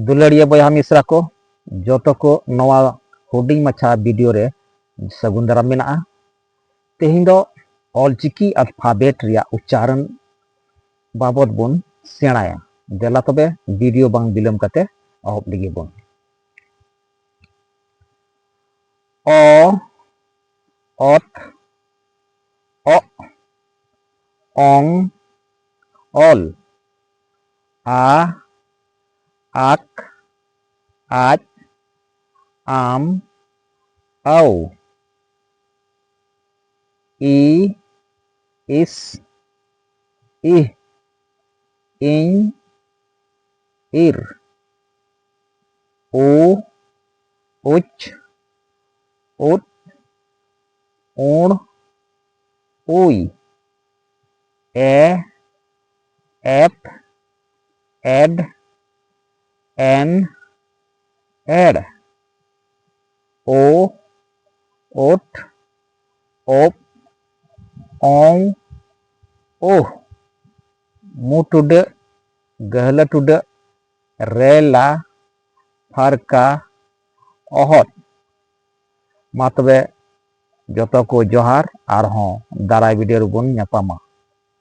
ᱫᱩᱞᱟᱹᱲᱤᱭᱟᱹ ᱵᱚᱭᱦᱟ ᱢᱤᱥᱨᱟ ᱠᱚ ᱡᱚᱛᱚ ᱠᱚ ᱱᱚᱣᱟ ᱦᱩᱰᱤᱧ ᱢᱟᱪᱷᱟ ᱵᱷᱤᱰᱤᱭᱳ ᱨᱮ ᱥᱟᱹᱜᱩᱱ ᱫᱟᱨᱟᱢ ᱢᱮᱱᱟᱜᱼᱟ ᱛᱮᱦᱮᱧ ᱫᱚ ᱚᱞᱪᱤᱠᱤ ᱟᱞᱯᱷᱟᱵᱮᱴ ᱨᱮᱭᱟᱜ ᱩᱪᱪᱟᱨᱚᱱ ᱵᱟᱵᱚᱫ ᱵᱚᱱ ᱥᱮᱬᱟᱭᱟ ᱫᱮᱞᱟ ᱛᱚᱵᱮ ᱵᱷᱤᱰᱤᱭᱳ ᱵᱟᱝ ᱵᱤᱞᱚᱢ ᱠᱟᱛᱮ ᱮᱦᱚᱵ ᱞᱟᱹᱜᱤᱫ ᱵᱚᱱ ᱚ ᱚᱛ ᱚᱜ ᱚᱝ ᱚᱞ ᱟ ᱟᱠ ᱟᱡ ᱟᱢ ᱟᱹᱣ ᱤ ᱤᱥ ᱤᱦ ᱤᱧ ᱤᱨ ᱩ ᱩᱪ ᱩᱫ ᱩᱬ ᱩᱭ ᱮ ᱮᱯ ᱮᱰ ᱮᱱ ᱮᱲ ᱳ ᱳᱴ ᱳᱯ ᱚᱝ ᱳᱦ ᱢᱩ ᱴᱩᱰᱟᱹᱜ ᱜᱟᱹᱦᱞᱟᱹ ᱴᱩᱰᱟᱹᱜ ᱨᱮᱞᱟ ᱯᱷᱟᱨᱠᱟ ᱚᱦᱚᱫ ᱢᱟ ᱛᱚᱵᱮ ᱡᱚᱛᱚ ᱠᱚ ᱡᱚᱦᱟᱨ ᱟᱨᱦᱚᱸ ᱫᱟᱨᱟᱭ ᱵᱷᱤᱰᱤᱭᱳ ᱨᱮᱵᱚᱱ ᱧᱟᱯᱟᱢᱟ